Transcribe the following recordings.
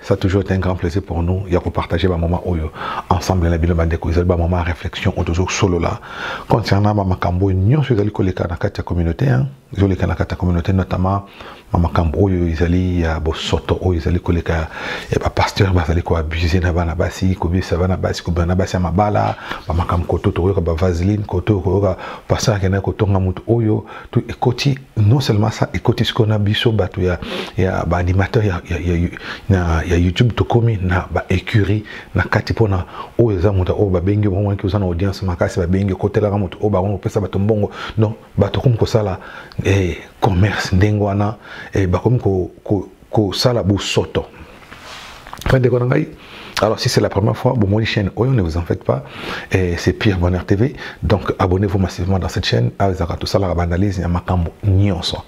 Ça a toujours été un grand plaisir pour nous de partager ba moment oyo ensemble na bino bandeko ezali ba moment réflexion oyo tozo solola concernant ba makambo nyonso ezali koleka na kati ya communauté hein ezoleka na kati ya communauté notamment ba makambo oyo ezali ya bosoto oyo ezali koleka ya ba pasteur bazali ko abuser na bana basi kobisa bana basi kobana basi ya mabala ba makambo koto tokoyoka ba vaseline koto koyoka pasteur akendaki kotonga moto oyo to ekoti non seulement ça ekoti sikoyo na biso bato ya, ya baanimateur ya, ya, ya, na, ya youtube tokomi na baécurie na kati mpona oyo eza moto oyo babengi omonaki oza na audience makasi babengi okotelaka moto oyo bakomi kopesa bato mbongo donc bato komi kosala eh, commerce ndenge wana eh, bakomi ko, ko, kosala bosoto ndeko na ngai alors si c'est la première fois bon mon chaîne oyo ne vous en faites pas et c'est Pierre Bonheur TV donc abonnez-vous massivement dans cette chaîne avec ah, tout ça la analyse ya makambo nyonso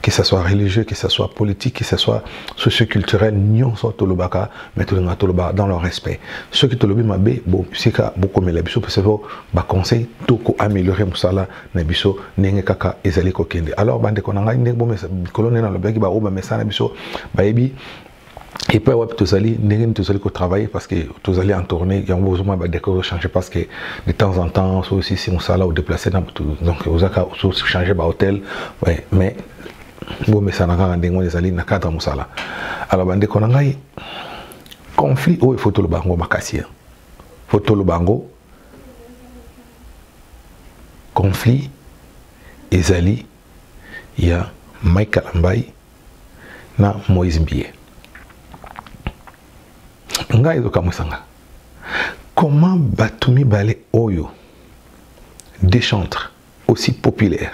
que ce soit religieux que ce soit politique que ce soit socio-culturel nyonso tolobaka mais tolinga toloba dans le respect ceux qui tolobi mabe bon sika bokomela biso parce que ba conseil toko améliorer musala na biso ndenge kaka ezali kokende alors bandeko na ngai ndenge bomesa likolo ndenge nalobelaki baoyo bamesana na biso bayebi epai wapi tozali ndenge nini tozali kotravaille parce que tozali en tourné yango ozomona badécor ochange parce que de temps en temps so osisi mosala odeplace na bato donc ozaka ochange bahôtel mais bomesana kaka ndenge wana ezali na cadre mosala alors bandeko na ngai conflit oyo ifo toloba yango makasi fo toloba yango conflit ezali ya Mike Kalambayi na Moïse Mbiye ngai ezokamwisa nga comment bato mibale oyo dechantre aussi populaire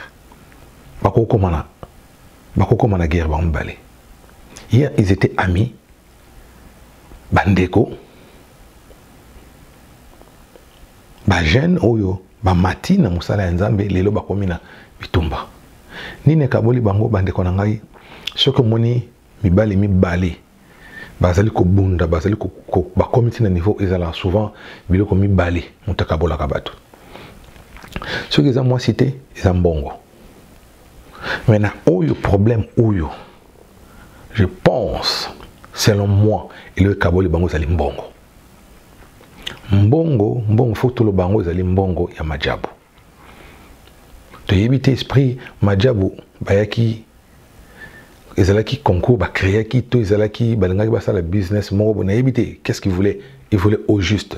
bakokoma na bakokoma na guerre bango mibale hier ils étaient amis bandeko bajeune oyo bamati na mosala ya nzambe lelo bakomi na bitumba nini ekaboli bango bandeko na ngai soki omoni mibali mibale bazali kobunda bazali bakomi ntina niveau ezalaka souvent biloko mibale moto akabolaka bato soki eza mwasi te eza mbongo mais na oyo problème oyo je pense selon moi eloko ekaboli bango ezali mbongo mbongo mbongo fo toloba yango ezali mbongo ya majabu toyebi te esprit majabu bayaki ezalaki concours bacreaki to ezalaki balingaki basala business moko bo nayebi te qu'est ce qu'il voulait il voulait au juste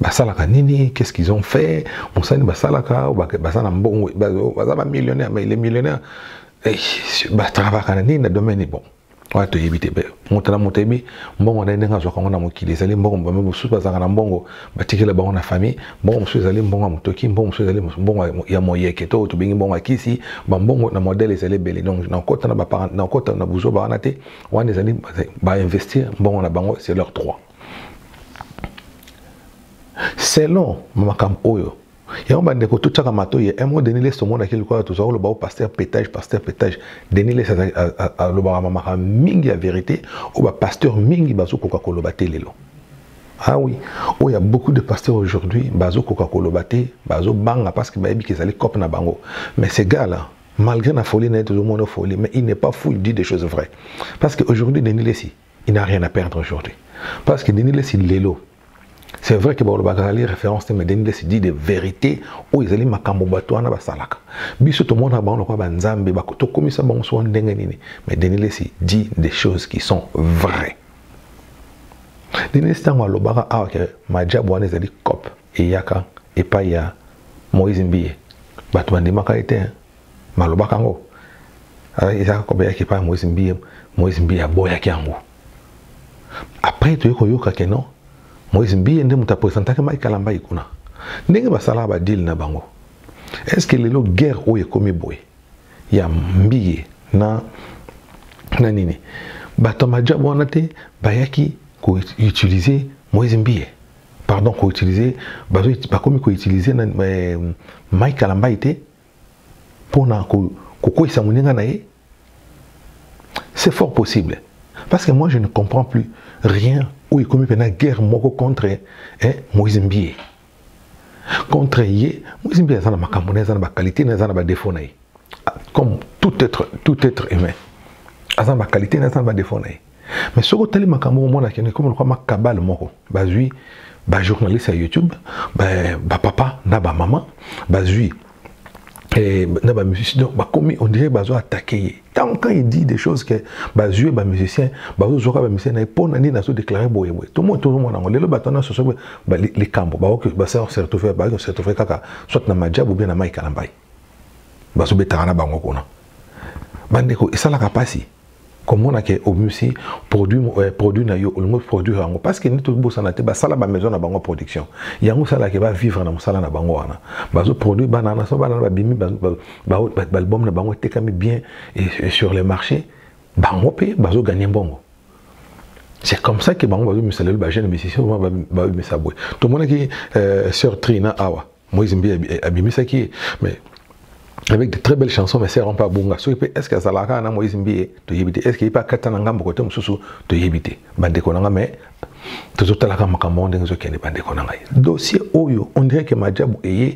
basalaka nini qu'est ce qu'ils ont fait mosani basalaka baza na mbongo baza bamillionnaire mais les millionnaire eh, batravaka na nini na domaine bon wana toyebi te moto na moto ayebi mbongo na ye ndenge azwaka yango na mokili ezali mbongo bame mosusu bazalaka na mbongo batikela bango na famille mbongo mosusu ezali mbongo ya motoki mbongo mosusu ezali mbongo ya moyeke to tobengi mbongo ya kisi bambongo na modele ezali ebele donc nakota na buzoba wana te wana ezali bainvestir mbongo na bango c'est leur droit selon makambo oyo yango bandeko totyaka matoi ya mo denis les tomonaki lokola tozwa koloba o paster petage paster petage denis les alobaka mamaka mingi ya verité oyo bapasteur mingi bazokoka koloba te lelo ah oui oyo ya beaucoup de pasteur aujourd'hui bazokoka koloba te bazobanga parce que bayebi ke ezali cope na bango mais ce gars là malgré na folie na ye tozomona folie mais il n'est pas fou il dit des choses vraies parce que aujourd'hui denis lesi il n'a rien à perdre aujourd'hui parce que Denis Lessi lelo c'est vrai que balobaka ezali référence te mais Denis Lessi dit des vérités oyo ezali makambo bato wana basalaka biso tomonaka bango lokola banzambe tokomisa bango soa ndenge nini mais Denis Lessi dit des choses qui sont vraies Denis Lessi ntango alobaka awa ah, ke majabu wana ezali cop eyaka epai ya Moïse Mbiye bato bandimaka ye te hein. malobaka yango ezalaka kobeyaki epai ya moise mbiye moise mbiye aboyaki yango après toye koyoka ke non moise mbiye nde moto apresentaki mike kalambai kuna ndenge basalaka badile na bango est ce que lelo guerre oyo ekomi boye ya mbiye na na nini bato ya majab wana te bayaki koutilize moise mbiye pardon koutilize bakomi koutilize na eh, mike kalambai te mpo na kokweisa moninga na ye c'est fort possible parce que moi je ne comprends plus rien oyo ekomi mpena guerre moko contre eh, moïse mbie contre ye moïse mbie aza na makambo na ye aza na baqualité na ye aza na badefo na ye ah, comme tout être, tout être humain aza na baqualité na ye aza na badefo na ye mais soki otali makambo omona akende komo lokwa makabale moko bazwi bajournaliste ya youtube bapapa na bamama bazwi eh, na bamusicien donc bakomi on dirait bazo attaquer ye ntango quand il dit des choses que bazwi ye bamusicien bazozwaka bamusicien na ye mpo na nini azodeklare boye boye tomo tozomona yango lelo bato wana soso likambo baoki basertove baoki kosertove kaka soit na majabu bien na mai kalambai bazobetaka na bango kuna bandeko esalaka mpasi komona ke obimisi produit eh, produit na yo olingi produire yango parce que nde tobosana te basala bamaison na bango production yango esalaka bavivre na mosala na bango wana bazoproduire bana na so bana na babimi baalbum na bango etekami bien et sur le marché bango mpe bazoganye mbongo c'est comme ça ke bango bazobimisa lelo bajeune musicien babimisa boye tomonaki euh, sœur trina awa ah Moïse Mbi abimisaki ye mais avec de très belles chansons mais sert pas bonga soki pe est-ce que azalaka na Moïse Mbi toyebi te est-ce que ipa kata na ngambo kote mosusu toyebi te bandeko na nga mais tozotalaka makambo ndenge ezokende bandeko na ngai dossier oyo on dirait que majabu eye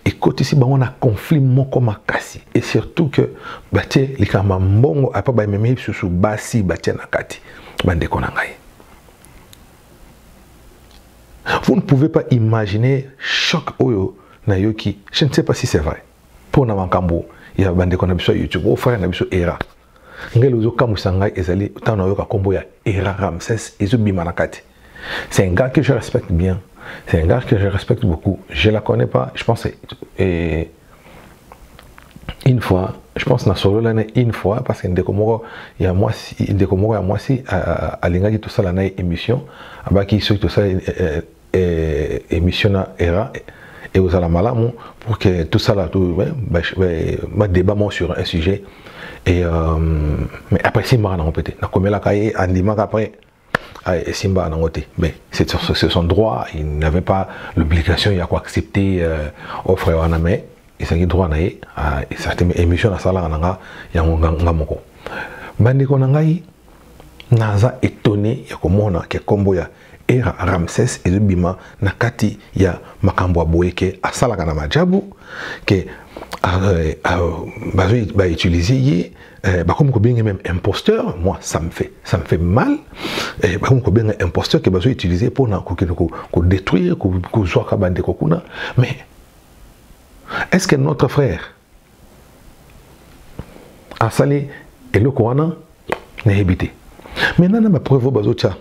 ekotisi bango na conflit moko makasi et surtout que batie likambo ya mbongo apa bamemi lisusu basi batie na kati bandeko na ngai Vous ne pouvez pas imaginer choc oyo na yoki. Je ne sais pas si c'est vrai. Pour na makambo ya bandeko na biso YouTube, au frère na biso Era. Ngelo ozo kamusa ngai ezali tant na yoka kombo ya Era Ramses ezo bima na kati. C'est un gars que je respecte bien. C'est un gars que je respecte beaucoup. Je la connais pas, je pense et une fois je pense na solo l'année une fois parce que ndeko moko ya mwasi ndeko moko ya mwasi alingaki tosala na émission abaki soki tosala eh, eh, eh, émission na era et aux malamu pour que tout ça là tout ma débat moi sur un sujet et euh, mais après c'est marrant en fait na komelaka ye andimaka après Ah, Simba en angoté. Mais c'est son droit, il n'avait pas l'obligation, il a quoi accepter euh, offre en amé, il s'est droit à ah, certaines émissions à Sala Ananga, il y a un moko. Bande Konangaï, Naza étonné, il y a comme on a, qui est combo ya era Ramsès et le bima na kati ya makambo boye ke asalaka na majabu ke euh, euh, bazo ba utiliser ye Eh, bakomi kobenga même imposteur moi ça me fait ça me fait mal eh, bakomi kobenga imposteur ke bazo utiliser mpona kokende kodétruire kozwaka bandeko kuna mais est ce que notre frère asali eloko wana nayebi te maintenant na bapreuve oyo bazotya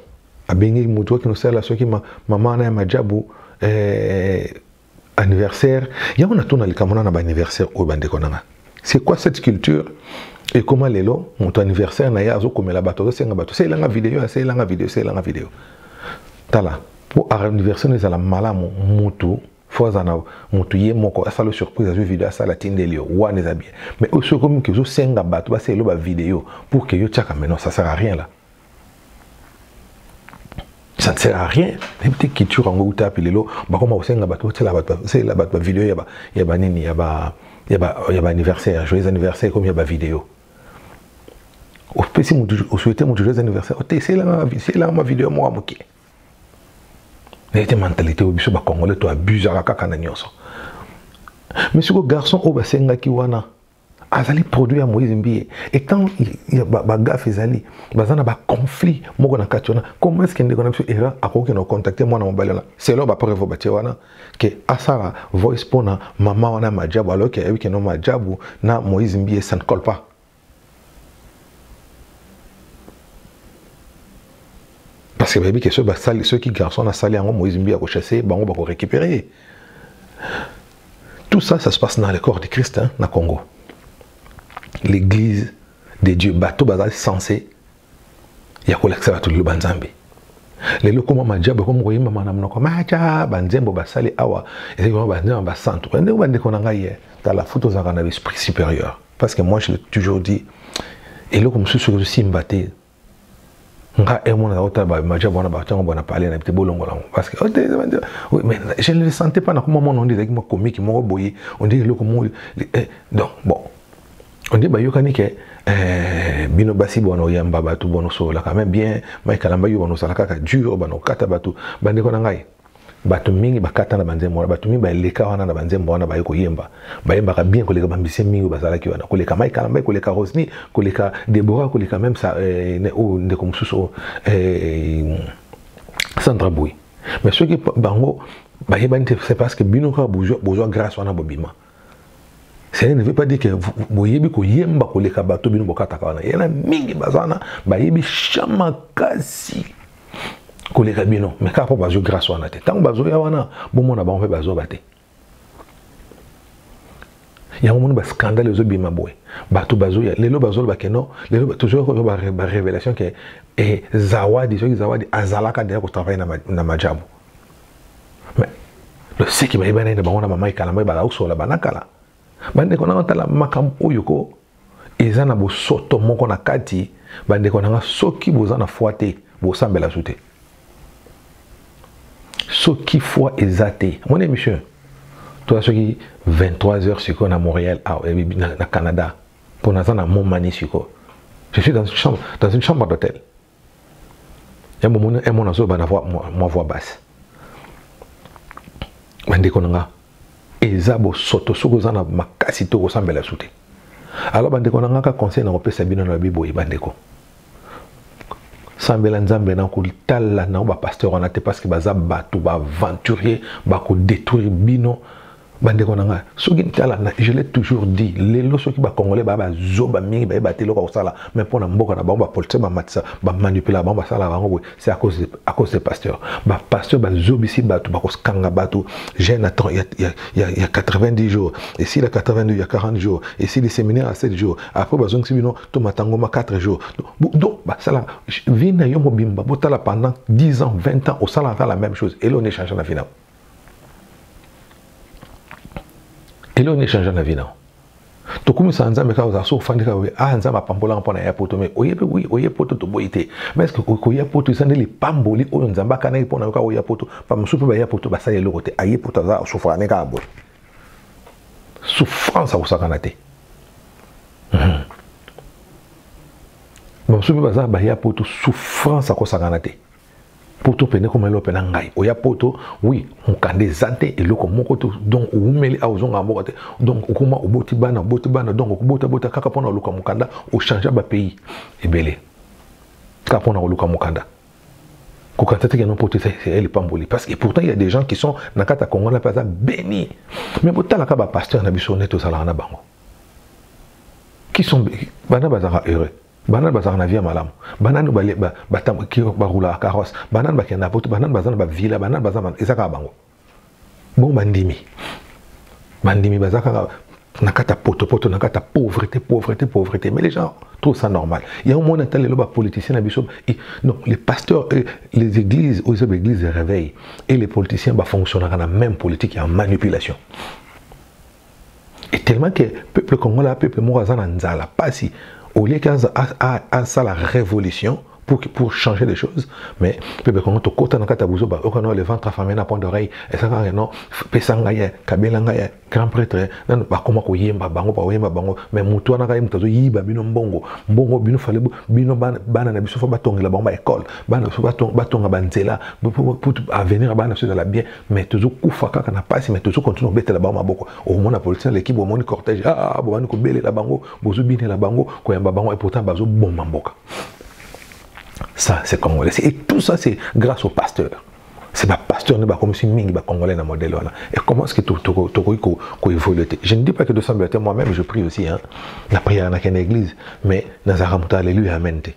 abengi moto akende osala soki mama wana ya majabu eh, anniversaire yango natuna likambo na ba anniversaire oyo bandeko nanga c'est quoi cette culture Et comment les ekoma mon anniversaire na ye azokomela bato azosenga bato selanga video aselanga video selanga video tala pour anniversaire na ezala malamu mutu fo aza na motu ye moko asala surprise azwi video asala atindeli yo wana eza bien mais oyo soki okomi ke ozosenga bato basala elo bavideo pour ke yo tiaka maintenant ça sert à rien là ça ne sert à rien même te culture yango uta api lelo bakoma kosenga bato botela bato basalela bato bavideo ya banini ya baanniversaire joyeux anniversaire ekomi ya bavideo opesi motu osouete motu joyeux anniversaire ote eselanga mavideo moko moke naye te mentalité oyo biso bacongolais to abusaka kaka na nyonso mais siko garçon oyo basengaki wana azali produit ya moïse mbiye et quand bagafe ezali baza na baconflit moko na kati wana comment est ce que ndeko na biso era akoki na contacte mwana mobali wana selon bapreuve batie wana ke asala voice mpo na mama wana ya majabu alors ke ayebi keno majabu na moïse mbiye ça ne colle pas parce que bayebi ke soki garçon asali yango moïse mbiye akochasse bango bakorécupérer Tout ça, ça se passe dans le corps de Christ, hein, na Congo. L'église de Dieu, bato bazali censé ya kolakisa bato liloba nzambe lelo koma majabo ekomi koyembama na monoko maja banzembo basali awa ezali koma banzembo basantu ndenge bandeko na ngai ye tala futi ozalaka na l'esprit supérieur parce que moi je l'ai toujours dit eloko mosusu osimba te nga emonaka eh, otala bamaja bwana batango bwana pale na bite bolongola yango parce que oh, mais je ne le sentais pas nakoma mona onde ezalaki mwa komiki moko boye onde eloko moko eh, donc bon onde bayokani ke eh, bino basi bwana oyamba bato bwana osololaka me bien mike alamba yo bwana osala kaka dur bwana okata bato bandeko na ngai bato mingi bakata na banzembo wana bato mingi baleka wana na banzembo wana baye koyemba bayembaka bien koleka bambise mingi oyo bazalaki wana koleka mike kalambai koleka rosny koleka debora koleka meme sa eh, oyo oh, ndeko mosusu oyo oh, eh, sandra boy mais soki bango bayebani te c'est parce que bino kaka bozwa grâce wana bobima cela ne veut pas dire que boyebi koyemba koleka bato bino bokataka wana yana mingi baza wana bayebi cha makasi koleka bino mais kaka mpo bazwi grâce wana te ntango bazoya wana bomona bango mpe bazoba te yango moni bascandale ezobima boye bato bazoya lelo bazoloba keno lelo tozoyokoyo barévélation ke eh, zawadi soki zawadi azalaka deja kotravaille na majabu mais loseki bayebani na bango na mama ekala mbai bakausola banakala bandeko nanga tala makambo oyo ko eza na bosoto moko na kati bandeko nanga soki boza na foi te bosambela zu te soki foi eza te moni émission toza soki 23 heures sikoyo na montréal ah, eh, na canada mpo naza na momani sikoyo je suis dans une chambre, dans une chambre d'hôtel yambo omoni un mwana azoba na mwa voix basse bandeko na nga eza bosoto soki oza na makasi te okosambela su te alors bandeko na nga ka conseil na kopesa bino na babi boye bandeko sambela nzambe na kotala na bapasteur wana te parce que baza bato baaventurier bakodétruire bino bandeko na ngai soki tala je l'ai toujours dit lelo soki bacongolais baya bazoba mingi bayeba te eloko kosala mais mpo na mboka na bango bapolitise bamatisa bamanipula bango basalaka bango boye c'est à cause de, à cause de pasteur bapasteur bazobisi bato bakokanga bato jeune ya, ya, ya, ya, ya 90 jours esila 82 ya 40 jours esili séminaire ya 7 jours après bazongisi bino to matangoma 4 jours donc basala vie na yo mobimba botala pendant 10 ans 20 ans osalaka la même chose eleo ne change na vie na yo eloko nini change na vie nao tokumisa nzambe kaka ozala so ofandi kaka oye ah nzambe apambolaka mpo na ya poto mai oyebi wi oye poto toboyi te mais eske koya poto eza nde lipamboli oyo nzambe akanaki mpo na yo kaka oya poto bamosusu mpe baya poto basala eloko te aye poto aza asufaka ne kaka boye souffrance akosakana te mhm. bamosusu mpe baza baya poto souffrance akosakana te poto pene koma eloko pena ngai oya poto oui mokanda eza te eloko moko te donc owumeli awa ozongaka mboka te donc okoma oboti bana oboti bana donc okobotabota kaka mpona oluka mokanda ochange bapays ebele kaka mpona koluka mokanda kokata teke no poto eza lipamboli parce que pourtant il y a des gens qui sont na kati ya congo na mpe aza béni mais botalaka bapasteur na biso nde tozalaka na bango qui sont bana bazalaka heureux banani bazalaka na vie ya malamu banani barulaka carrosse banani bakenda poto banani baza na bavila banani baza eza kaka bango bongo bandimi bandimi baza kaka na kati ya potopoto na kati ya pauvreté pauvreté pauvreté mais les gens trouvent ça normal yango moni ata lelo bapoliticien na biso non les pasteurs euh, les églises oyo eza baéglise ya réveil et les politiciens bafonctionnaka na même politique ya manipulation et tellement que peuple congolais peuple moko aza na nzala pasi au lieu qu'asala révolution pour, pour changer les choses mais peuple congo tokota na kati ya buzoba okano le ventre affamé na point d'oreille esaka ke non pesa ngai ye kabela ngai ye grand prêtre nanu bakoma koyemba bango bakoyemba bango mais motu wana kaye moto azoyiba bino mbongo mbongo bino fale bino bana na biso fo batongela bango baekole bana na biso batonga banzela pour avenir ya bana na biso ezala bien mais tozo kufa kaka na pasi mais tozo continue kobetela bango maboko omona politicien aleki bomoni cortège ah, ah, ah bobandi kobelela bango bozobinela bango koyamba bango et pourtant bazoboma mboka ça c'est congolais et tout ça c'est grâce au pasteur c'est ba pasteur ne bakomisi mingi ba congolais na modèle wana et comment est-ce que tokoki ko, ko évoluer je ne dis pas que de sembler moi-même je prie aussi hein na prière na ken église mais nazaka moto alléluia amen te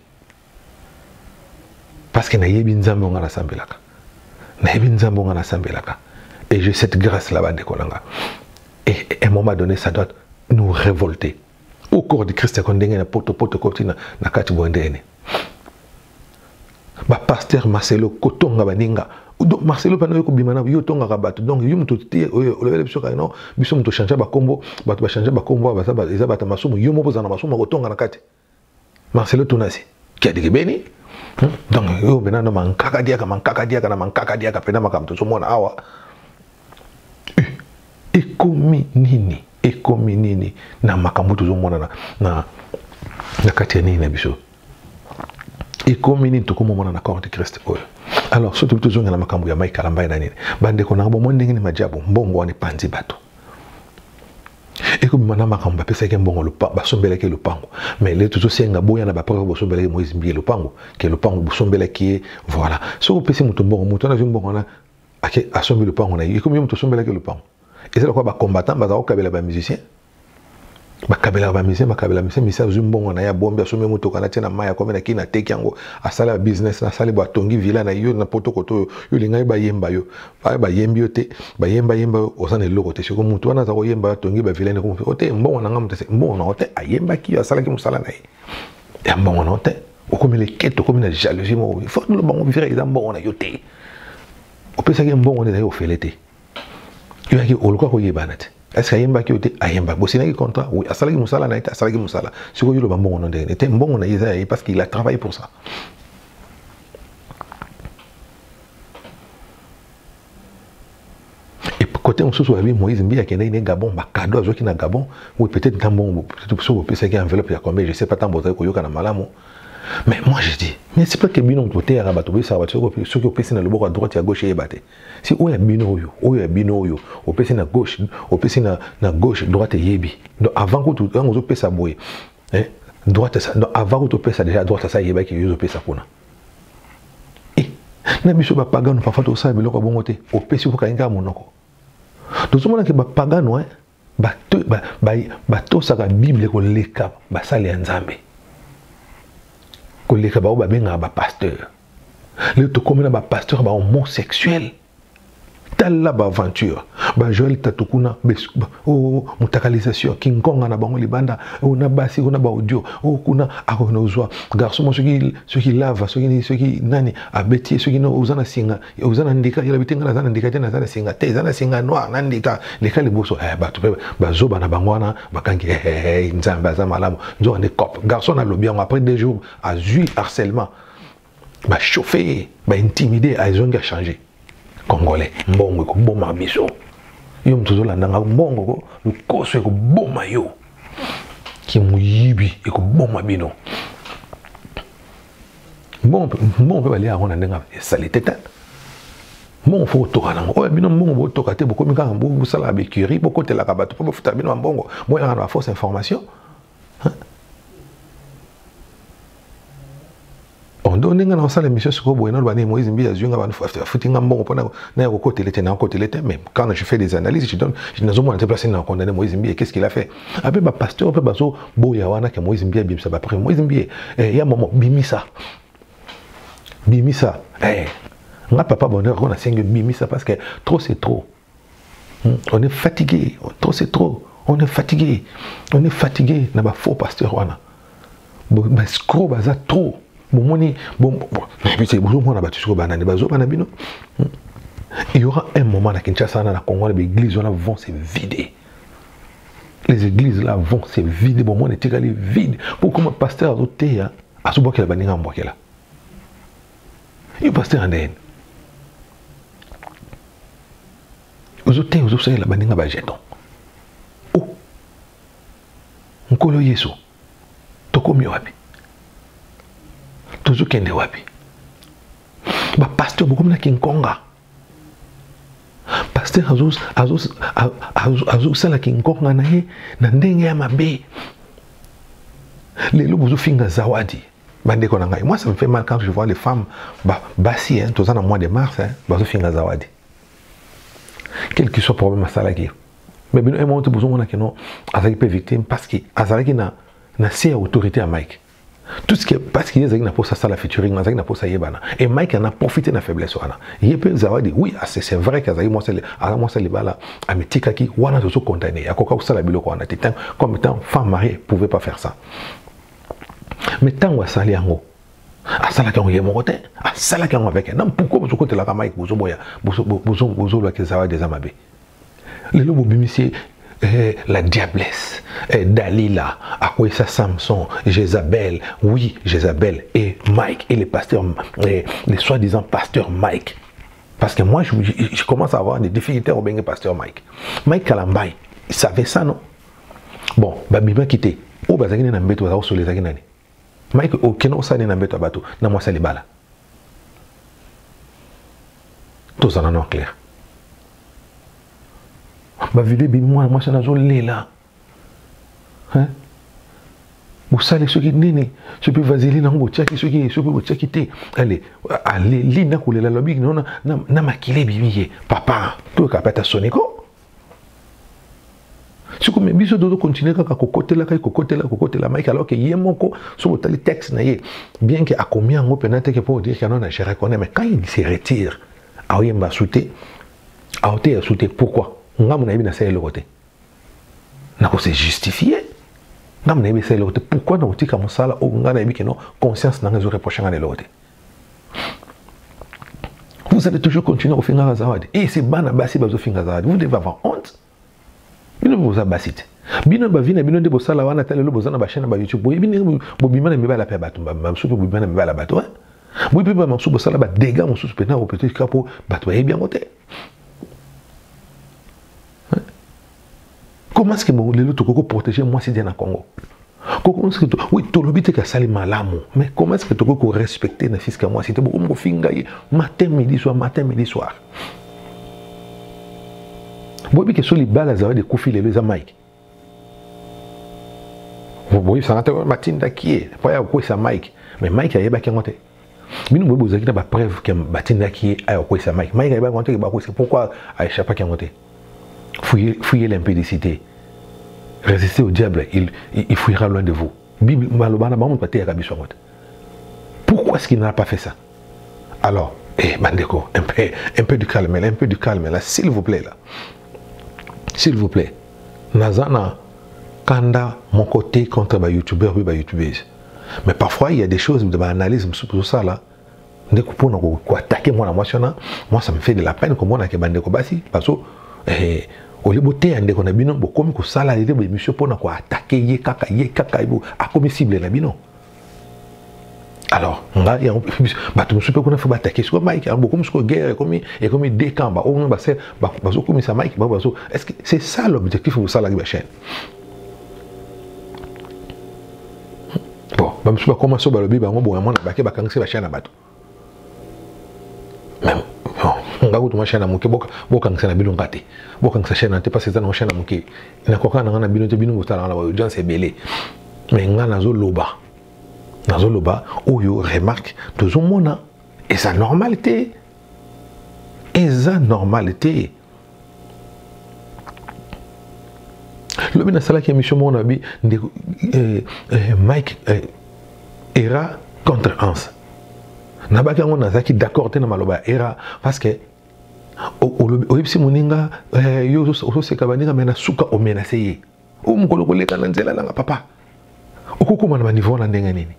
Parce que nayebi nzambe nga nasambelaka. Nayebi nzambe nga nasambelaka. Et j'ai cette grâce là-bas de Kolanga. Et à un moment donné, ça doit nous révolter. Au corps du Christ, quand on a poto poto koti na na kati bondene. Ba pasteur Marcelo Kotonga baninga. Donc Marcelo pano yo kobima na yo tonga ka bato. Donc yo muto te oyo olobele biso ka non, biso muto changer ba kombo, bato ba changer ba kombo, ba za ba eza bato masumu, yo moko za na masumu kotonga na kati. Marcelo Tunasi kiadigebeni hmm? donc yo mpena na mankaka diaka mankaka diaka na mankaka diaka mpena makambo tozomona awa ekomi nini ekomi nini na makambo tozomona na, na, na kati ya nini na biso ekomi nini tokomomona na corps de christ oyo alors soki tobi tozongela makambo ya mai kalambai na nini bandeko na yango bomoni ndenge nini majabu mbongo wana epanzi bato ekobima na makambo bapesaki mbongo basombelaki ye lopango mais le tozosenga boya na bapreuve bosombelaki moise mbiye lopango ke lopango bosombelaki ye voilà soki opesi moto mbongo moto wana azwi mbongo wana ake asombi lopango na ye ekomi yo moto osombelaki lopango eza lokola bacombattant baza kokabela bamusicien bakabelaka bamusicien bakabela musicien musicien azwi mbongo na ye abombi asombi motoka natie na mai akomi na kini ateki yango asala business nasali bo atongi villa na yo na potokoto oyo yo olingaki bayemba yo baye bayembi yo te bayemba yemba yo oza na eloko te siko motu wana aza koyemba atongi bavilene ko o te mbongo na ngai moto te mbongo na yo te ayembaki yo asalaki mosala na ye ya mbongo na yo te okomi lekete okomi na jalousie moko fo oloba ngo vira eza mbongo na yo te opesaki ye mbongo nde na ye ofele te yo yaki oluka koyebana te est-ce que ayembaki yo te ayembaki bosinaki contrat oui asalaki mosala na ye te asalaki mosala sikoyo yoloba mbongo no ndenge te mbongo na ye eza ya ye parce qu'il a travaillé pour ça kote mosusu babi moïse mbiye akendaki ne gabon bakado azwaki na gabon oui peut-être nta mbongo soki bopesaki enveloppe ya combien je sais pas ntango bozali koyokana malamu mais moi je dis mais c'est pas que bino moto boteyaka bato boyesaka bato soki opesi na loboko ya droite ya gauche eyeba te si oyo ya bino oyo oyo ya bino oyo opesi na gauche opesi na, na gauche droite eyebi donc avant kutu ntango ozopesa boye eh, droite donc avant kutu opesa déjà droite asa eyebaki yo ozopesa kuna eh, na biso bapagano parfois tokosala biloko ya bongo te opesi bokangi kaka monoko tozomona ke bapagano eh, batosaka bible koleka basali ya nzambe koleka baoyo babengaka bapasteur lelo tokomi na bapasteur bahomosexuel tala baaventure bajoel tatu kuna o oh, oh, mutakalisation kinkonga na bango libanda o oh, na basi o na baaudio o kuna akoki na ozwa garçon mo soki soki lava soki soki nani abeti ye soki oza na singa oza na ndika yela bitenga naza na ndika te naza na singa te eza na singa noir na ndika leka liboso eh, bato mpe bazoba na bango wana bakangi eh, eh, eh, nzambe aza malamu nzoka nde cop garçon alobi yango après deux jours azwi harcèlement ba chauffer ye ba intimider azongi achanger congolais mbongo ekoboma biso yo moto ozolanda ngai mbongo ko lokoso ekoboma yo kimoyibi ekoboma bino mbongo mpe balia yango na ndenge esali te te mbongo fo kotoka nango oyo bino mbongo botoka te bokomi kaka bosalaka becurie bokotelaka bato mpo bafutaka bino bambongo boyaka na baforce information ondo ndenge na kosala émission sikoyo boye naloba nini moïse mbi azwi nga afuti nga mbongo mpona naya kokotele te nakokotele te mais quand je fais des analyses je donne nazomona te place na condamné moïse mbi qu'est ce qu'il a fait ape ah, bapasteur mpe bazoboya wana ke moïse mbi abimisa baprime moïse mbi eh, ya momo bimisa bimisa eh, nga papa bonheur ngo nasengi bimisa parce que trop c'est trop on est fatigué trop c'est trop on est fatigué on est fatigué na ba faux pasteur wana bascro baza trop bomoni bozomona bato soko banani bazoba na bino hmm. il y aura un moment na kinshasa wana na congo na baeglise wana vont se vider les églises là vont se vider bomoni etikali vide po koma pasteur azoteya azobwakela baninga ambwakela yo pasteur andeyeni ozo te ozosalela baninga bajeton o oh. nkolo yesu tokomi wapi tozokende wapi bapaster bokomi na kinkonga paster azosala kinkonga na ye na ndenge ya mabe lelo bozofinga zawadi bandeko na ngai moi ça me fait mal quand je vois les femmes ba, basi hein, toza na mois de mars hein, bazofinga zawadi quel que soit problème asalaki mais bino emo te bozomona kino azalaki mpe victime parce que azalaki na na se ya autorité ya mike tout ce que parce que ye azalaki na mposa asala featuring azalaki na mposa ayebana et mike ana profite na faiblesse wana ye mpe zawadi oui ah, c'est vrai que azalaki mwasi aza mwasi libala amitikaki wana tozo condamne akoka kosala biloko wana te comme étant femme mariée pouvait pas faire ça mais ntango asali yango asalaki yango ye moko te asalaki yango avec na mpuku bozo kotelaka mike bozo boya bozo loa ke zawadi eza mabe lelo bobimisi eh, la diablesse eh, dalila akweyisa samson jezabel oui jezabel et mike et le pasteur eh, le soi disant pasteur mike parce que moi je, je, je commence à avoir des difficultés au bengue pasteur mike mike kalambai savait ça non bon babimaki te oyo bazalaki nde na mbeto bazala kosolo ezalaki nani mike okenda kosala nde na mbeto ya bato na mwasi ya libala tozala no claire bavideo ebimi mwana mwasi wana azolela bosali soki nini soki mpe vaseline yango botiaki soki soki botiaki te ale aleli nakolela lobi na makila ebimi ye papa toyoka mpe ata soniko siko me biso tozo continue kaka kokotelaka ye kokotela kokotela mike alors ke ye moko soki otali texte na ye bien ke akomi yango mpena teke mpo odire kano na je reconnais mais quand il se retire aoyemba su te aoteya su te pourquoi ngambo nayebi nasala eloko te nakose justifie ngambo nayebi esala eloko te pourquoi nakotika mosala oyo ngai nayebi keno conscience na ngai ezoreproche ngai na eloko te Vous allez toujours continuer à finir la zawadi. Et c'est bana basi bazo finir la zawadi. Vous devez avoir honte. Bino vous abassi. Bino ba vina bino de bosala wana tale lo bozana ba chaîne ba YouTube. Boye bino bobima na mibala pe bato ba mamsu pe bobima na mibala bato. Hein? Boye pe ba mamsu bosala ba dégâts mosusu pe na ko peut-être kapo bato ba yebi yango te. Comment est-ce que bon, lelo toko ko protéger moi c'est na Congo? Comment est-ce que oui, to lobi te ka sali malamu, mais comment est-ce que toko ko respecter na fils ka moi c'est beaucoup ko finga ye matin midi soir matin midi soir. Bobi ke so libala zawa de kufi lelo za Mike. Bobi sa ngata matinda kié, pa ya ko sa Mike, mais Mike ayebaki ngote. bino boyebi bozalaki na bapreuve ke batindaki ye aya kokwesa mike mike ayebaki yango te ke bakwesa pourquoi aechapaki yango te fouye l'impudicité résistez au diable il, il, il fouillera loin de vous bible maloba na bango moto bateyaka biso yango te pourquoi ce qu'il n'a pas fait ça alors eh, bandeko un peu, un peu du calme là un peu du calme là s'il vous plaît là s'il vous plaît naza na kanda moko te contre bayoutubeur mpe bayoutubese mais parfois il y a des choses de analyse mosusu tozosala ndeko mpona koatake mwana mwasi wana moi ça me fait de la peine komona ke bandeko basi bazo eh, olie boteya ndeko na bino bokomi kosala lete boemission mpona koatake ye kaka ye kaka akomi cible na bino alors nga yango bato mosusu mpe kuna fo batake sikoyo mike yango bokomi sikoyo guerre ekomi ekomi deux camp baoyo basel bazokomisa mike bango bazo est ce que c'est ça l'objectif bosalaki bachaine bon bamosusu bakoma so balobi bango bonga mwana bake bakangisi bashai na bato nga kutu mashai na moke bokangisa na bino nga te bokangisa shai na te mpasi eza nango shai na moke nakoka nanga na bino te bino botalanga na baaudience ebele mai nga nazoloba nazoloba oyo remarque tozomona eza normal te eza normal te lobi nasalaki émission moko na bi ndeko eh, eh, mike eh, era contre anse nabaki yango nazalaki d'accord te na maloba ya era parce que oyebisi moninga yo ozoseka baninga me na suka omenase ye o mokolo koleka na nzela nanga papa okokoma na baniveau wana ndenge nini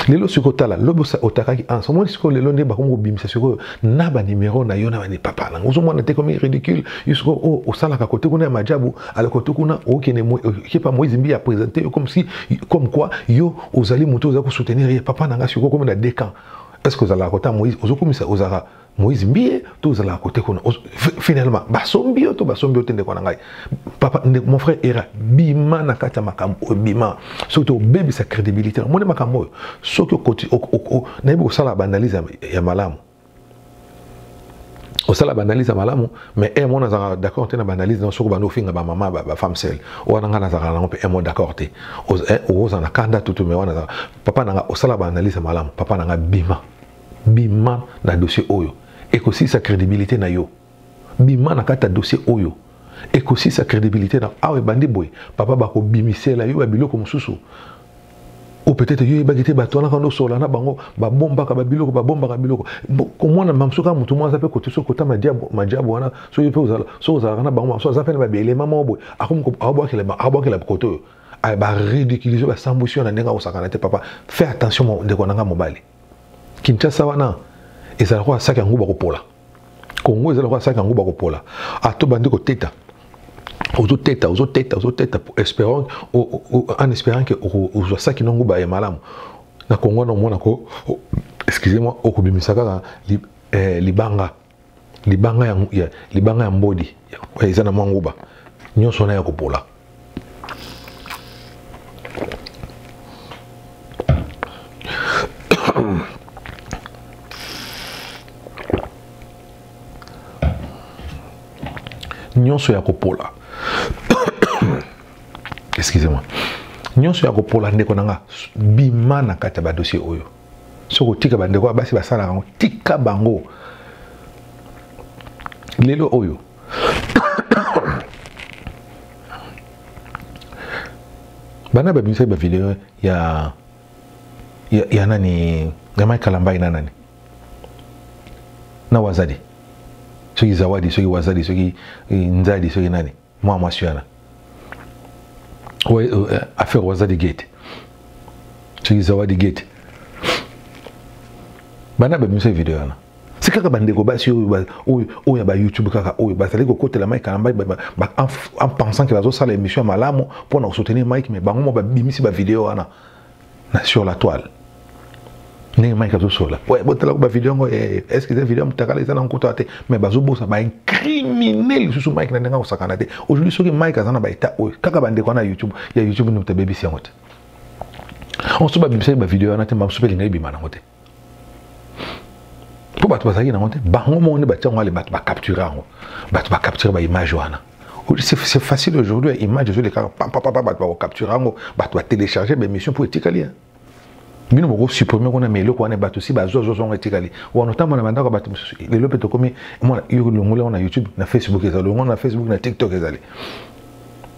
lelo soki otala lobi otakaki anse omoni sikoyo lelo nde bakomi kobimisa sikoyo na banimero na yo na bani papa nanga ozomona te komi ridicule yo sikoyo oyo oh, osalaka kote kuna ya majabu ala kote kuna okende kepa moise mbi ya présente yo comme si comme quoi yo ozali moto oza kosoutenir ye papa nanga sikoyo okomi na deux camps est ce que ozalaka kota moise ozokomisa ozalaka moïse mbiye to ozalaka kote kuna finalement basombi yo to basombi yo te ndeko na ngai papa ndeko mon frère era bima na kati ya makambo oyo bima soki te obebisa crédibilité omoni makambo oyo soki okoti nayebi kosala baanalyse ya malamu osala baanalyse ya malamu mais e mona azalaka d'accord te na baanalyse na soki obandi ofinga bamama bafemme sele wana ngai nazalaka nango mpe e mo d'accord te okozala na kanda tutu mais wana papa na ngai osala baanalyse ya malamu papa na ngai bima bima na dossier oyo ekosisa crédibilité na yo bima na kati ya dossier oyo ekosisa crédibilité na awa ebandi boye papa bakobimisela yo ya biloko mosusu ou peut-être yo yebaki te bato wana kando osola na bango babombaka babiloko babombaka biloko komona mamso kaka motu moko aza mpe kotiso kota majabu wana soki mpe soki ozalaka na bango mamso aza mpe na babelema moko boye akomi abwakela koto oyo ah, baridiculize basambwisi yo na ndenge akosakana te papa fais attention ndeko na ngai mobali Kinshasa wana ezala lokola saki yango bakopola kongo eza lokola saki yango bakopola ato bandi koteta ozoteta ozoteta ozoteta espérant en espérant ke ozwa saki nango baye malamu na kongo wana omona ko excusez moi okobimisa kaka eh, libanga libanga ya, ya, libanga ya mbodi eza na mwa nguba nyonso wana ya kopola nyonso ya kopola excusez-moi nyonso ya kopola ndeko na nga bima na kati ya badossier oyo soki otika bandeko ya basi basalaka yango tika bango lelo oyo bana babimisaki bavideo ya, ya, ya nani ya mai kalambai na nani na wazadi soki zawadi soki wazadi soki eh, nzadi soki nani mwa mwasi wana euh, affaire wazadi gate soki zawadi gate bana babimisa video wana si kaka bandeko basi oyo ya bayoutube kaka oyo bazali kokotela mike kalambai en pensant ke bazosala émission ya malamu mpo na kosoutenir mike mais bango mo babimisi bavideo wana na sur la toile ndenge mike azosola botalaka bavideo yango eh, estce eza video ya motakala eza na nkutu ya te mais bazobosa baincrimine lisusu mike na ndenge akosakana te aujourd'hui soki mike aza na baetat oyo kaka bandeko wana ya youtube ya youtube nde moto abebisi yango te onso babebisaki bavideo wana te mamosu mpe elinga ebima nango te mpo bato bazalaki nango te bango moko nde batia yango ale bato bacapture yango bato bacapture baimage wana c'est facile aujourd'hui image ezolekaka papapapa bato bakocapture yango bato batelecharge baémission mpo etikali bino bokosupprime kuna ma eloko wana bato si bazwazwazwa yango etikali wana otambo na bandako ya bato mosusu lelo mpe tokomi mwana longola yango na youtube na facebook ezali longola na facebook na tiktok ezali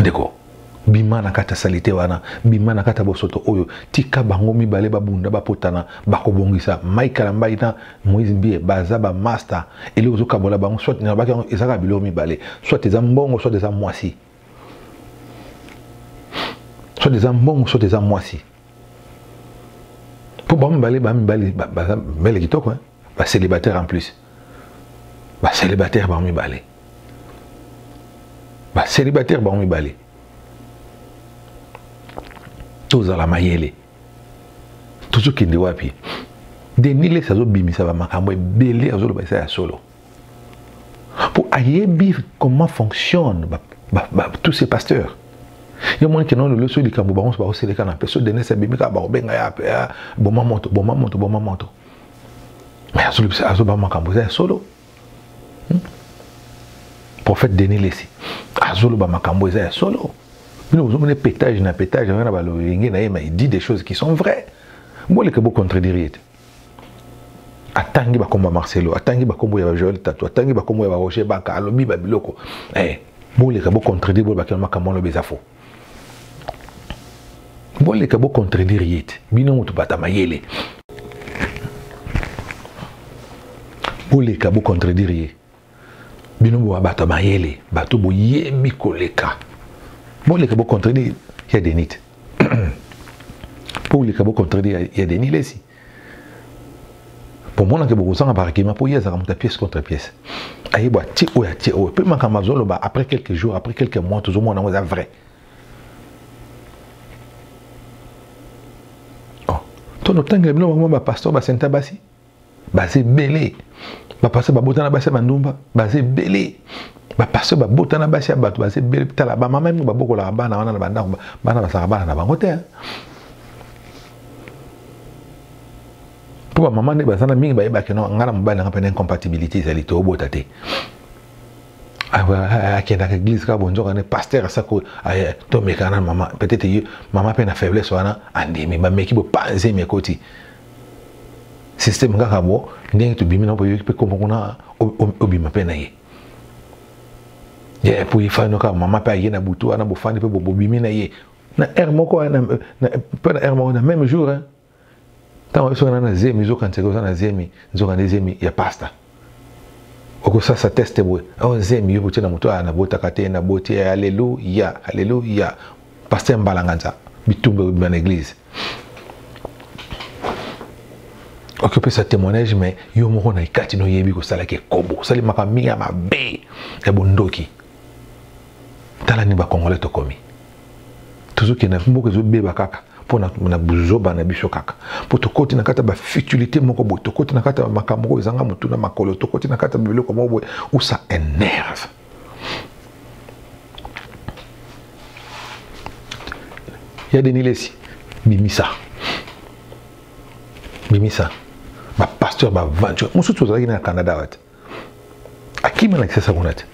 ndeko bima na kati ya salite wana bima na kati ya bosoto oyo tika bango mibale babunda bapotana bakobongisa mike kalambai na moise mbie baza bamasta eloko ezokabola bango soit nalobaki yango ezaka biloko mibale soit eza mbongo soit eza mwasi soit eza mbongo soit eza mwasi mpo bango mibale bamibale baza mbele kitoko ba célibataire en plus ba célibataire bango mibale ba célibataire bango mibale tozala mayele tozokende wapi denis les azobimisa bamakambo ebele azoloba eza ya solo mpo ayebi comment fonctionne ba, ba, ba, tous ces pasteurs yo moni kena lelo so likambo bango nyonso bakoselekana mpe so denis abimi kaka bakobenga ya boma moto boma moto boma moto mais azolobisa azoba makambo eza ya solo hmm? prophète denis lesi azoloba makambo eza ya solo bino bozomona petage na petage wana balolenge na ye ma dit des choses qui sont vraies boleke bocontredire ye te atangi bakombo ya marcelo atangi bakombo ya joel tatu atangi bakombo ya baroger baka alobi babiloko eh, boleka bocontredire bolobakela makambo wana lobi eza faux boleka bo contredire ye te bino moto bata mayele boleka bo contredire ye bino boa bato mayele bato boyebi koleka boleka bo contredire ya denite boleka bo contredire ya denis lesi bomonake bokozanga baargument mpo ye azalaka moto ya pièce contre pièce ayebo atie oyo atie oyo mpe makambo azoloba après quelques jours après quelques mois tozomona yango eza vrai oh. to notangela bino bango bapasteur basenta basi baza ebele bapasteur babotana basi ya bandumba baza ebele bapasteur babotana basi ya bato baza ebele tala bamama mingi babokolaka bana wana na bandako bana bazalaka bana na bango te mpo bamama nde baza na mingi bayebaki no ngai na mobali nanga mpe na incompatibilité ezali te obota te akendaka église kaka bonzoka ne paster asako tomekaka na mama peut-être ye mama mpe na faiblesse wana andimi bameki bopanzi emi ekoti systeme kaka bo ndenge tobimi na boyoki mpe kombo kuna obima mpe na ye ye mpo ifani kaka mama mpe aye na butu wana bofandi mpe bobimi na ye na heure moko hein, mpe na heure moko na même jour hein. ntango biso wana na zemi zokanisaka oza na zemi nzokande zemi ya pasta okosasa teste boye ao oh, zemi yo botie na moto aya ah, nabotaka te naboti eh, aleluya aleluya paster mbalanganza bitumba ebima na église okoki opesa témoignage mais yo moko na ekati noyebi kosalaki ekobo osalemaka mingi ya mabe ya bondoki tala ni bakongole tokomi tozokende mboka ezobeba kaka mpo na buzoba na biso kaka mpo tokoti na kati ya bafutilité moko boye tokoti na kati ya makambo oyo ezanga motu na makolo tokoti na kati ya biloko moko boye ou ça énerve ya denilesi bimisa bimisa bapasteur baventure mosusu ozalaki na ya canada wate akimi alakisa sa kuna te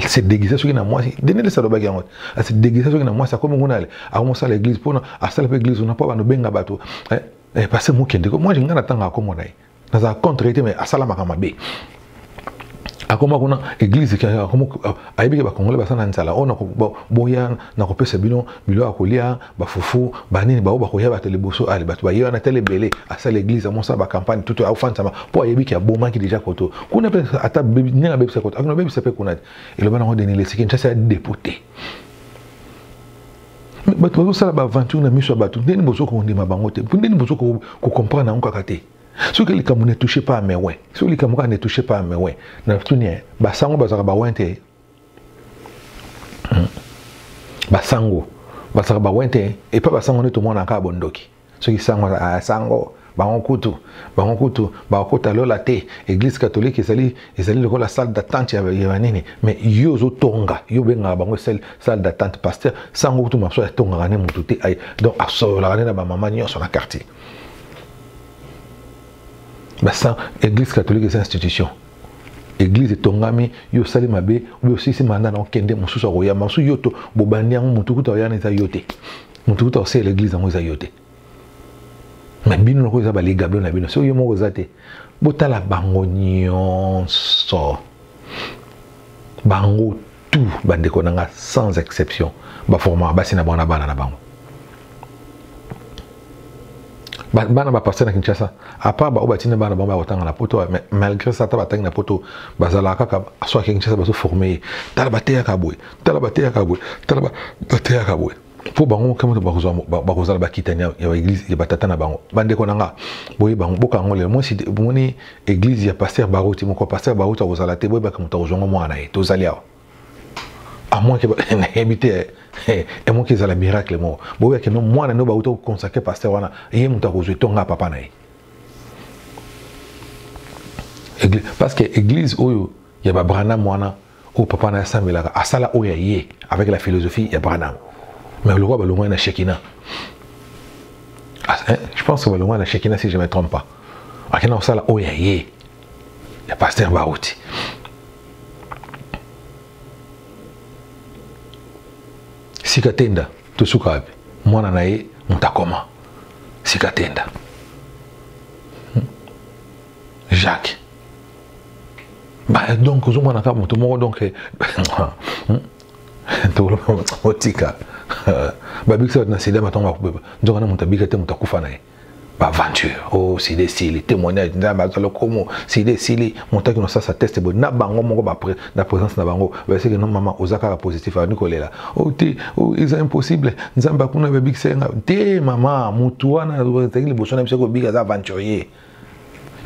se déguisa soki na mwasi denelesa alobaki yango se déguisa soki na mwasi akomi kuna ale akomosala église mpona asala mpe église kuna mpo bando benga bato eh, eh, pase mokende ko moi ngai natanga akomona ye nazala contre ye te mais asalamaka mabe akoma kuna église ayebi ke bacongolais basala na nzala oyo boya na kopesa bino bilo ya kolia bafufu banini baoyo bakoya bato liboso ale bato baye wana tele ebele asala eglise amonsa bacampagne tutu aofanisama mpo ayebi ki abomaki deja koto kuna mpe ata ndenge abebisa koto akona bebisa mpe kuna te eloba nango deni lesiki nshasi ya depute bato bazosala baaventure na miso ya bato ndeni bozo kondima bango te ndeni bozo kocomprendre yango kaka te soki likambo ne touche pas amewe soki likambo kaka ne touche pas amewe na tuni basango bazalaka bawen te hmm. basango basaka bawe te epa basango nde tomona kaka bondoki soki sango ah, sango bango kutu bango kutu bakokota lola te église catholique ezali ezali lokola salle d'attente ya banini mais yo ozotonga yo obengaka bango salle d'attente pasteur sango kutu maso atongaka ne motu te donc asololaka nde na bamama nyonso na quartier basan église catholique eza institution eglize etongami yo osali mabe oyo osilisi manda na okende mosusu akoyamba mosusu yo to bobandi yango motu kuta oyana eza yo te motu kuta oseyela eglize yango eza yo te me bino lokola eza baligablo na bino soki yo moko eza te botala bango nyonso bango tout bandeko na nga sans exception baformaka basi na bango na bana na bango bana bapasteur na kinshasa apart baoyo batina bana bango bakotanga na poto malgré ça ata batangi na poto bazalaka kaka soki kinshasa bazoforme ye tala bateyaka boye tala bateyaka boye tala bateyaka boye mpo bango moke moto bakozala bakitani ya baeglize ya batata na bango bandeko na nga boye bango boka yango lelo mwasi omoni eglize ya paster baroti moko paster baroti akozala te boyebaka moto akozwa ngo mwana na ye tozali awa amwaki nayebi te emoki ezala miracle moko boyebaki no mwana nde bauta koconsacre paster wana ye moto akozwa etonga papa na ye parce que eglize oyo ya babranam wana oyo papa na ye asambelaka asala oyo ya ye avec la philosophie ya branham mais lokola balongwani na shekina ah, eh, je pense que balongwani na shekina si je me trompe pas akenda kosala oyo ya ye ya paster bauti sika tenda tosuka wapi mwana na ye moto akoma sika tenda hmm. jacques Bah, donc ozomona kaka moto moko donc eh, hmm? otika babikisa bato na sida batongo bakobeba nzoka na moto abika te moto akufa na ye baaventure o oh, sida esili témoignage nzambe azwa lokomo sida esili moto akino sasa teste boye na bango moko na présence na bango baseke no mama oza kaka positif abandi kolela o oh, te o oh, eza impossible nzambe akuna babikisa ye nga te mama motu wana ezalaki liboso na biso kobika aza aventurier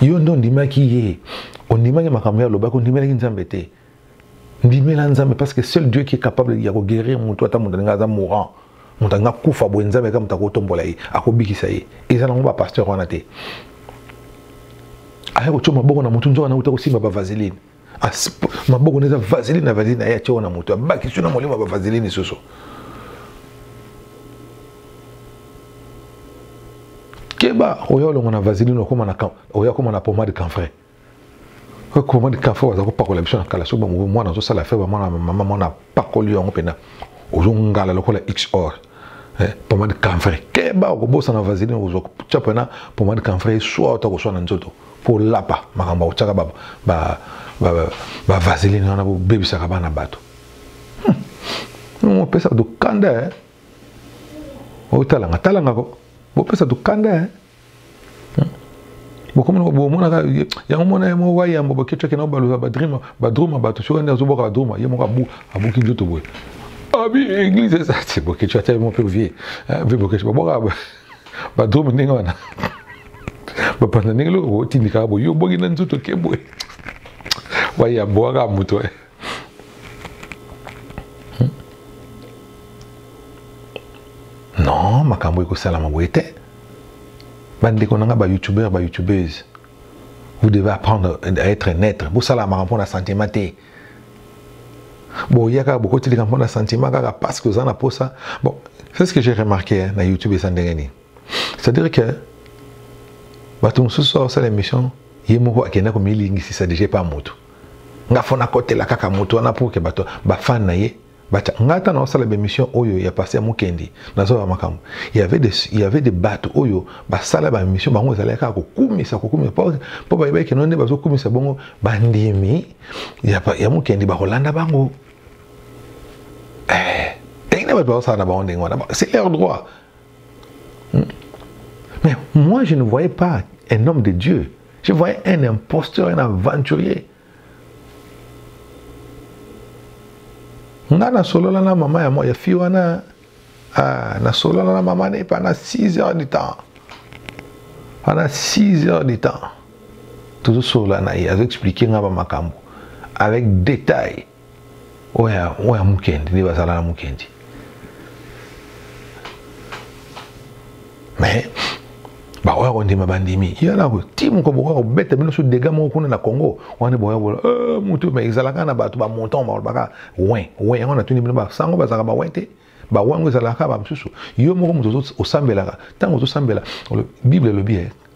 yo nde ondimaki ye ondimaki makambo ye alobaki ondimelaki nzambe te ndimela nzambe parce que seul dieu qui est capable ya koguérir motu ata moto alinga aza mourant moto alinga kufa boye nzambe aka moto akotombola ye akobikisa ye eza nango bapasteur wana te aya kotyo maboko na motu nzoka na uta kosimba bavaseline maboko na eza vaseline na vaseline aye atye wana moto abakisi na molimo ya bavaseline lisusu keba oya olongo na vaseline okoma na oya okoma na pomade canfrai pomade canfrai baza kopakola biso na kala soki bamobi mwana azosala fe bamwana mama mwana apakoli yango mpena ozongala lokola xor eh, pomade canfrai keba okobosana vaseline okozwa tya mpena pomade canfrai eswa ota koswa na nzoto mpo olapa makambo otyaka ba, ba, ba, ba, ba vaseline wana bobebisaka bana bato hmm. opesa bato kanda eh? otalanga talanga ko bopesa bato kanda eh? hmm. bokomona bomonaka yango mona ye moko wayambo bokecaki na baluka badrima badruma bato soki nde azoboka badruma ye moko abuki nzoto boye abi ah, église eza te bokecaki ata ye moko mpe vie mpe bokecaki babwaka ba drome ndenge wana bapanda ndenge loko otindikaka boye yo obongi na nzoto ke boye wayambwaka moto eh. hmm? non makambo ekosalama boye te bandeko na ngai bayoutubeur bayoutubeurs vous devez apprendre à être neutre bosalamaka mpo na sentiment te boya kaka bokoti likambo na sentiment kaka parce que oza na posa bon c'est ce que j'ai remarqué hein, na youtube eza ndenge nini c'est à dire que bato mosusu aosala émission ye moko akenda komilingisisa deja epa motu nga fona kotela kaka motu wana pour ke bato bafane na ye Bacha, ngai ata naosala bemission oyo ya pasteur Mukendi, nazoba makambo. Il y avait des il y avait des bato oyo basala ba mission bango ezalaki kaka kokumisa kokumisa po po ba yebaki nonde bazo kumisa bongo bandimi ya ya Mukendi ba kolanda bango. Eh, ndenge bato basala na bango ndenge wana, c'est leur droit. Hmm? Mais moi je ne voyais pas un homme de Dieu. Je voyais un imposteur, un aventurier. nga nasolola na mama ya, ya fi wana ah, nasolola na mama ne pendant 6 heures du temps pendant 6 heures du temps tozosolola na ye azoexplike nga bamakambo avec détail oya oya mukendi nde bazala na mukendi mais bakoya kondima bandimi ye na ti moko bokoya kobeta bino so dega moko kuna na congo wana boya bola eh, motu ma ezalaka na bato bamontant balobaka win win yango natuni bino basango bazalaka bawin te bawango ezalaka bamosusu yo moko moto osambelaka ntango ozosambela bible elobi ye eh,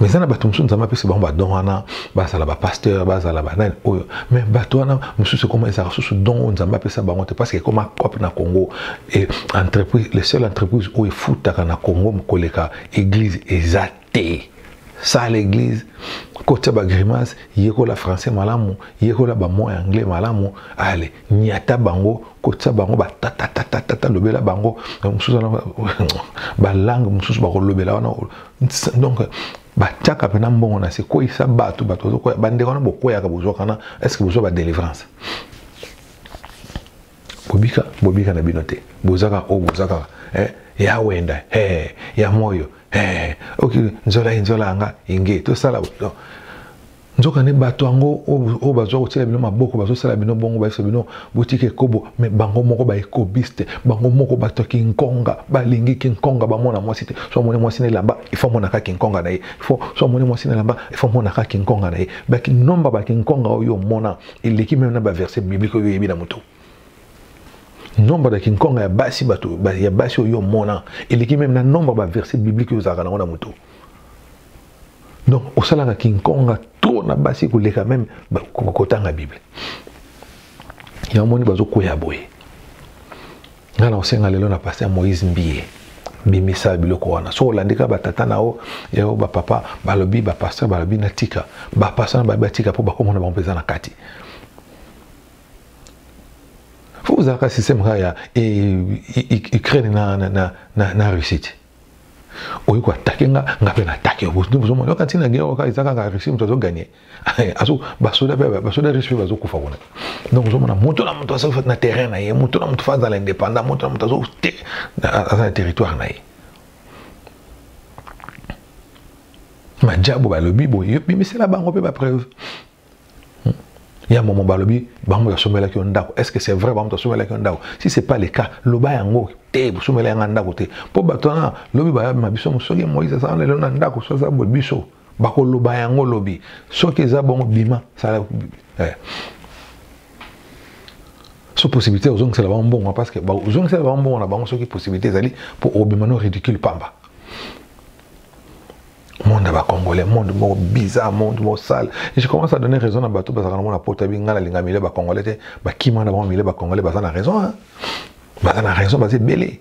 mais eza na bato mosusu nzambe apesi bango badon wana bazala bapasteur bazala banani oyo mais bato wana mosusu ekoma ezalaka susu don oyo nzambe apesa bango te parce que ekoma cope na congo e entreprise le seul entreprise oyo efutaka na congo koleka église eza te sala église kotya bagrimace yekola français malamu yekola bamoi anglais malamu ale nyata bango kotisa bango batatatatata lobela bango mosusu wana balangue mosusu bakolobela wana donc batiaka mpena mbongo na se kweyisa bato bato bazokwea bandeko wana bokweyaka bozwakana estce bozwa badelivrance bobika bobika na bino te bozaka oyo bozaka eh, ya wenda eh, ya moyo eh, oki nzola ye nzola yanga inge tosala no. nzokande bato yango oyo bazwa kotyela bino maboko bazosala bino bongo bayebisa bino botika ekobo me bango moko baekobiste bango moko bato ya kinkonga balingi kinkonga bamona mwasi te so amoni mwasi na elamba ifo amonaka kinkonga na ye ifo so amoni mwasi na elamba ifo amonaka kinkonga na ye bakinomba bakinkonga oyo omona eleki meme na baverse biblike oyo oyebi na moto nombre ya kinkonga ya basi bato ya basi oyo omona eleki meme na nombre ya baverse biblike oyo ozalaka nango na moto donc osalaka kinkonga trop na basi koleka meme kotanga bible yango moni bazokwea boye ngai na kosenga lelo na paster moïse mbiye bimisa biloko wana so olandika batata na yo yao bapapa balobi bapaster balobi natika bapaster na balobi batika mpo bakomona bango mpenza na kati fo ozalaka systeme kaka ya eh, ukraine na, na, na, na, na russie te oye ko atake nga nga mpe na atake yo bozo bozo mona kati na guerre oyo kaka eza kaka Russie moto azo gagner azo basoda mpe basoda Russie mpe bazokufa kuna donc ozo mona moto na moto azo na terrain na ye moto na moto fa azala indépendant moto na moto azo te aza na territoire na ye majabu balobi boye bimisela bango mpe bapreuve Il y a un moment balobi bango ya somela ki ndako. Est-ce que c'est vrai bango somela ki ndako? Si c'est pas le cas, loba yango te somela yanga ndako te. Po bato wana lobi ba ma biso soki Moïse ça lelo na ndako so za bo biso. Bako loba yango lobi. Soki eza bongo bima sala eh. So possibilité ozongisela bango mbongo parce que ba ozongisela bango mbongo na bango soki possibilité ezali po obima no ridicule pamba. monde ya bacongolais monde moko bizarre monde moko sale je commence à donner raison na bato bazalaka na mona poto abi ngai nalinga milie bacongolais te bakima na bango milie bacongolais baza na raison hein? baza na raison baza ebele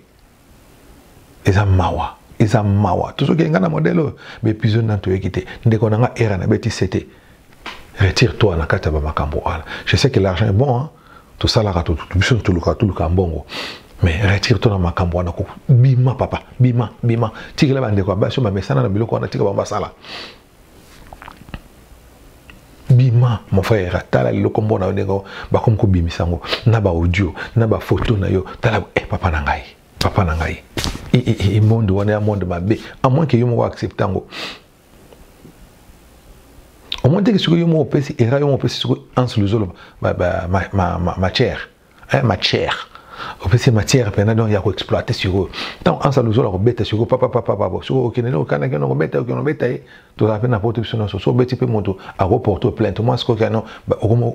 eza mawa eza mawa tozokende ngai na modele oyo baepisode nani toyoki te ndeko na ngai era nabeti sete retire toi na kati ya bamakambo wana je sais que l'argent est bon hein? tosalaka biso toluka toluka mbongo mais retire to na makambo wana ko bima papa bima bima tikela bandeko ya basi bamesana na biloko wana tika bango basala bima mon frère tala lelo kombo na yo ndenge bakomi kobimisa yango na baaudio na bafoto na yo tala e eh, papa na ngai papa na ngai e, e, e, e monde wana ya monde mabe amoin ke yo moko accepte yango omoni teke soki yo moko opesi era yo moko opesi soki anse luzolo matière matière opesi matière mpena donc ya koexploite sikoyo ntango ansa luzolo akobeta sikoyo papapapapa soki okende nde okana kende okobeta okende obeta ye tozala mpe na poto biso nyonso so obeti mpe moto akoporte plainte moi sikoyo kano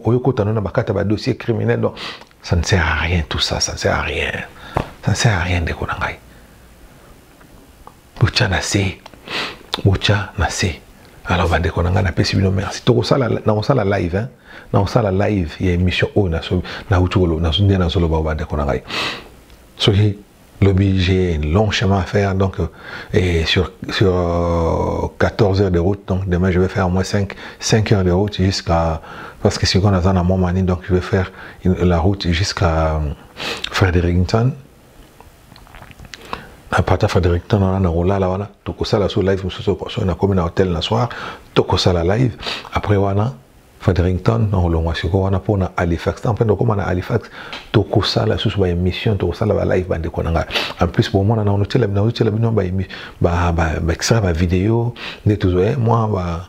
oyokota no na bakata badossier criminel donc ça ne sert à rien tout ça ça ne sert à rien ça ne sert à rien ndeko na ngai botya na se botya na se alors bandeko na ngai napesi bino merci nakosala live hein? nakosala live ya émission oyo nauti nde nazoloba bandeko na ngai soki lobi j'ai un long chemin à faire donc euh, et sur, sur 14 euh, heures de route donc demain je vais faire au moins 5, 5 heures de route jusqu'à parce que si on a dans mon mani donc je vais faire la route jusqu'à euh, Fredericton apata fadrik ntango wana nakolala wana tokosala so live mosusu soki nakomi na hotel na soir tokosala live après wana Fredericton na olongwa sikoyo wana mpo na Halifax ntango mpe ndokoma na Halifax tokosala lisusu ba émission tokosala ba live bandeko na ngai en plus bomona na onotyela bino otyela bino ba extrait ba video nde tozwa eh, mwa ba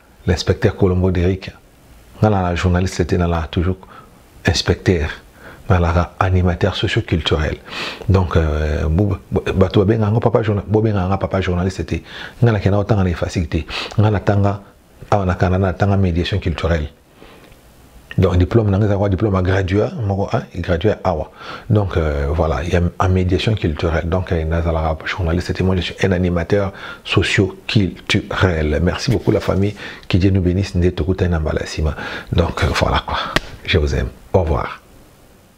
L'inspecteur Colombo Derrick, nga na la journaliste te na la toujours inspecteur na la animateur socio-culturel. Donc euh, bato babenga yango papa bobenga yanga papa journaliste te. Nga na kenda otanga na efasiki te. Nga na tanga awa na Canada na tanga médiation culturelle. donc diplôme nanga ezalaka diplôme ya gradua moko hein, gradua awa donc euh, voilà ya en médiation culturelle donc euh, nazalaka journaliste te moi je suis un animateur socio culturel merci beaucoup la famille que dieu nous bénisse nde tokutani na mbala nsima donc euh, voilà quoi je vous aime au revoir